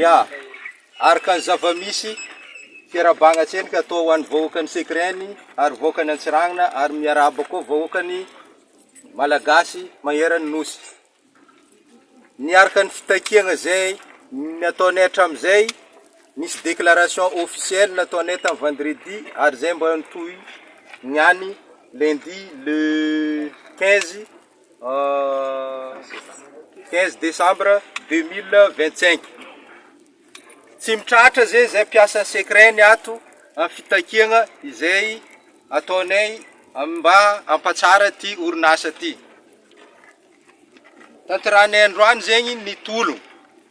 Ya! Araka ny zava-misy, fiarahabagna tsenka atao ho an'ny vahoakan'i Sekreny ary vahoakan'i Antsiranana ary miarahaba koa vahoakan'ny Malagasy manerana ny Nosy. Ny araka ny fitakiagna izay nataonay hatramin'izay, nisy déclaration officielle nataonay tamin'ny vendredi ary izay mba nitohy ny any lundi le quinze. Quinze decembre deux mille vingt cinq, tsy mitratra zay zay mpiasa secret ny ato amin'ny fitakiana izay ataonay mba hampatsara ity orinasa ity, tanterahanay androany zegny ny tolona.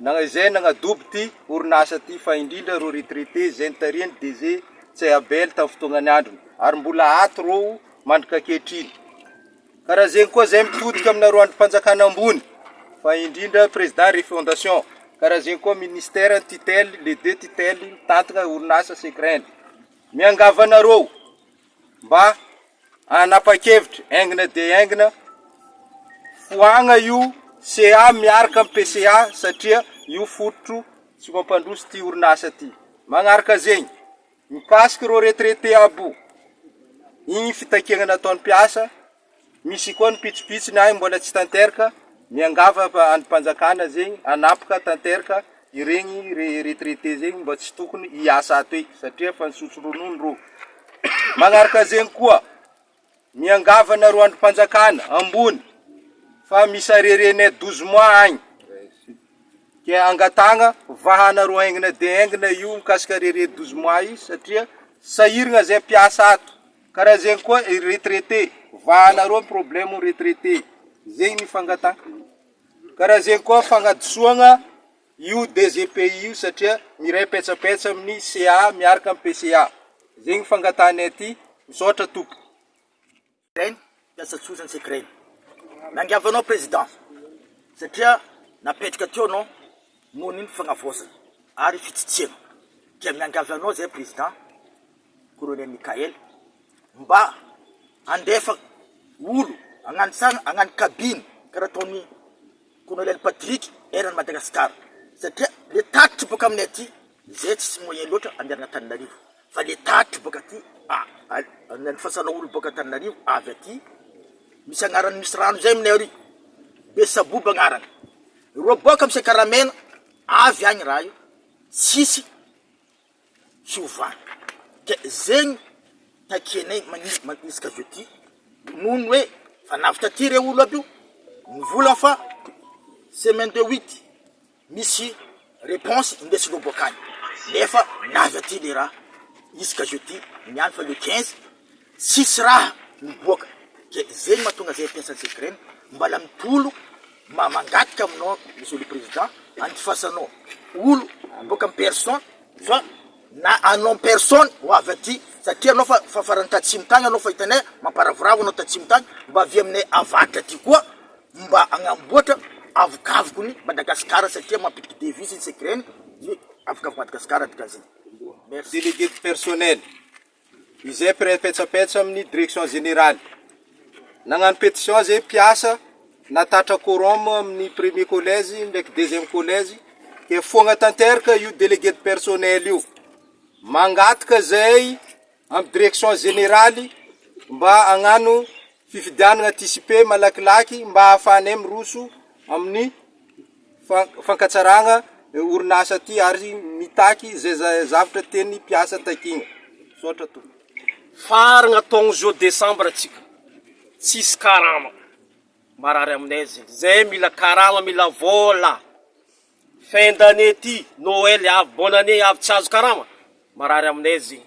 Nana izay nanadobo ity orinasa ity fa indrindra ireo retraité izay nitarihan'ny DG Ntsay Abel tamin'ny fotoanan'ny androny ary mbola ato ireo mandrika ankehitriny. Karazegny koa izay mitodika aminareo andrim-panjakana ambony fa indrindra Président Refondation. Karazegny koa Ministère ny tutelle, les deux tutelles mitantana orinasa Secrend. Miangavy anareo. mba hanapa-kevitra aingina dia aingina foagna io CA miaraka amin'ny PCA satria io fototro tsy mampandroso ty orinasa ty. Magnaraka zegny, mikasiky ireo retraité aby o, igny fitakiagna nataon'ny mpiasa. Misy koa ny pitsopitsony ahy mbola tsy tanteraka, miangavy andrim-panjakana zegny hanapoka tanteraka iregny retraité zegny mba tsy tokony hiasa ato eky satria efa nisotro ronono rô. Manaraka zegny koa, miangavy anareo andrim-panjakana ambony fa misy arerenay douze mois agny ke angatahagna vahanareo aingana dia aingana io mikasika arere douze mois io satria sahiragna zay mpiasa ato. Karaha zegny koa i retraité, vahana roa ny problème retraité, zegny ny fangatahana. Karaha zegny koa fagnadisoagna io DGPI io satria miray petsapetsa amin'ny CA miaraka amin'ny PCA. Zegny fangatahanay aty, misaotra tompoko. Mpiasa tsotra ny secret. Nangiavanao Président satria napetraka teo anao noho ny fanavaozana ary fitsitsiana. Dia miangavy anao izahay Président Colonel Mickaël mba handefa olo hagnanitsagna hagnano cabine karaha ataon'i Colonel Patrick eran'i Madagascar satria le tatitry boka aminay aty Zay tsisy moyen loatra andehanana Antananarivo fa le tatitra boka aty ny fasana olona boka Antananarivo avy aty misy agnarany misy rano zay aminay ary be saboba agnarany reo boka amy sekaramena avy agny raha io tsisy fiovana ke zegny takianay magnis- magnisiky avy aty noho ny hoe fa navy taty reo olo aby io mivola fa semaine de huit. Misy reponse indesinao boaka any nefa na avy aty le raha izy ka jeudi ny any fa le quinze tsisy raha miboaka ke zegny mahatonga zay mpiasa Cegrem mbala mitolo mba mangataka aminao monsieur le president andifasanao olo boaka am personne fa na en nom personne ho avy aty satria anao fa fa farany tatsimo tany anao fa hitanay mamparavoravo anao tatsimo tany mba avia aminay avaratra aty koa mba agnamboatra avokavoko ny Madagascar satria mampiditry devis ny secret ny avokavoko Madagascar dikan'izay merci. Délégué du personnel. Izay mpiray petsapetsa amin'ny Direction Générale. Nagnano pétition izay mpiasa nahatratra quorum amin'ny premier collège ndraiky deuxième collège dia nifoagna tanteraka io délégué de personnel io. Mangataka izay amin'ny Direction Générale mba hagnano fifidianana anticipé malakilaky mba hahafahanay miroso amin'ny. fankatsarana orinasa ty ary mitaky zay zavatra tian'ny mpiasa takiana. Misaotra tompoko. Faragna taogno zao desambra tsika tsisy karama marary aminay zegny zay mila karama mila vôla fin d'année ty noely avy bonne année avy tsy azo karama marary aminay zegny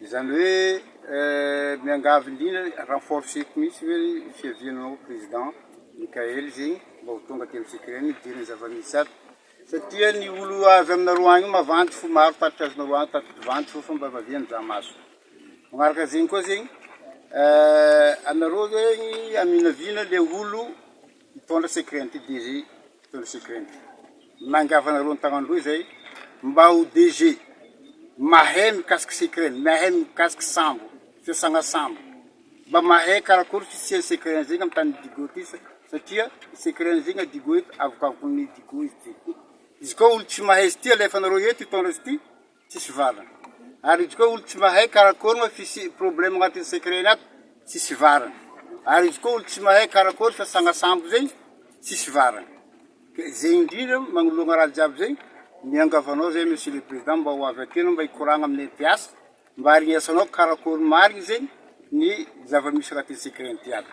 Izany hoe miangavy indrindra hoe renforceko mihitsy ve ny fiavianao président Mickaël zegny mba ho tonga aty am tsika eny hidirany zavamisy ato satria ny olo avy aminareo agny mavandy fo maro tatitra azonareo any tatitry vandy fo fa mba vavia mizaha maso magnaraka zegny koa zegny anareo zegny aminaviana le olo Hitondra secret ity DG hitondra secret ity. Mangafa anareo ny tagnany roa izay mba ho DG mahay mikasika secret, mahay mikasika sambo, fiasana sambo. Mba mahay karakory fisian'ny secret an'izay amin'ny tany Digo ity satria secret an'izay na Digo eto avokavokon'ny Digo izy ity. Izy koa olo tsy mahay izy ity alefanareo eto hitondra izy ity. Tsisy varina. Ary izy koa olo tsy mahay karakory moa f'isy problème agnatin'ny secret-ny ato, tsisy varina. Ary izy koa olo tsy mahay karakory fa sanga sambo zay, tsisy varina. Ke zay indrindra magnoloagna raha jiaby zay, miangavy anao zay Monsieur le Président mba ho avy aty anao mba hikoragna amin'ny mps mba harignesanao karakory marigny zay ny zava-misy agnatin'ny secret-ny ty ato.